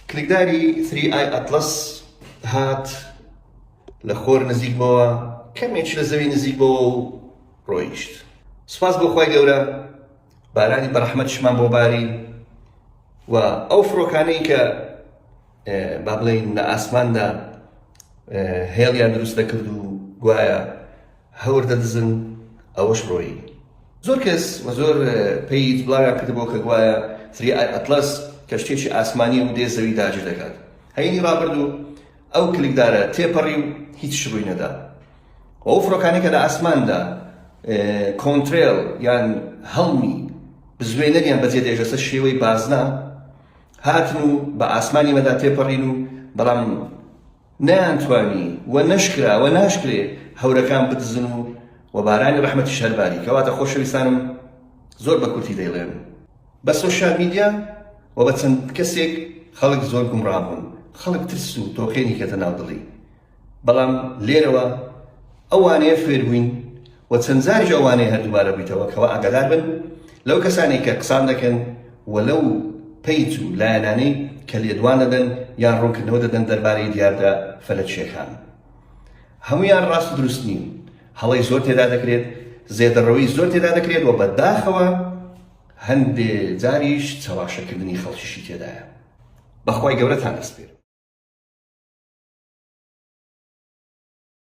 کلیکداری ثری ئای ئەتڵەس هات لە خۆر نزیک بۆوە کەمێک لە زەوی نزیک بۆوە و ڕۆیشت سپاس بۆ خۆی گەورە بارانی بەرەحمەت شمان بۆ باری و ئەو فڕۆکانەی کە با بڵین لە ئاسماندا هێڵیان دروست دەکرد و گوایە هەور دەدزن ئەوەش ڕۆیی. زۆر کەس و زۆر پەیج بڵاویان کردبوو کە گوایە تری ئای ئەتڵەس کەشتیەکی ئاسمانیە و دێ زەوی داگیر دەکات. هەینی ڕابردوو ئەو کلکدارە تێپەڕی و هیچ ڕووی نەدا و ئەو فڕۆکانەی کە لە ئاسماندا کۆنترێڵ یان هەڵمی بزوێنەریان بەجێ دێ لەسەر شێوەی بازنە هاتن و بە ئاسمانی مەدا تێپەڕین و بەڵام نەیانتوانی و نەشکرا و ناشکرێ هەورەکان بدزن و و بارانی ڕەحمەتیش هەر باری. کەواتە خۆشەویستانم زۆر بە کورتی دەیڵێم بە سۆشیال میدیا و بە چەند کەسێک خەڵک زۆر گومڕا بوون، خەڵک ترس و تۆقێنی کەتە ناو دڵی، بەڵام لێرەوە، ئەوانەیە فێر بووین و چەند جاریش ئەوانەیە هەر دووبارە بوویتەوە کەوا ئاگادار بن لەو کەسانەی کە قسان دەکەن و لەو پەیج و لایەنانەی کە لێدوان دەدەن یان ڕوونکردنەوە دەدەن دەربارەی دیاردە فەلەکییەکان هەموویان ڕاست و دروست نین هەڵەی زۆر تێدا دەکرێت زێدەڕەوەی زۆر تێدا دەکرێت و بەداخەوە هەندێ جاریش چەواشەکردنی خەڵکیشی تێدایە بەخوای گەورەتان دەسپێرم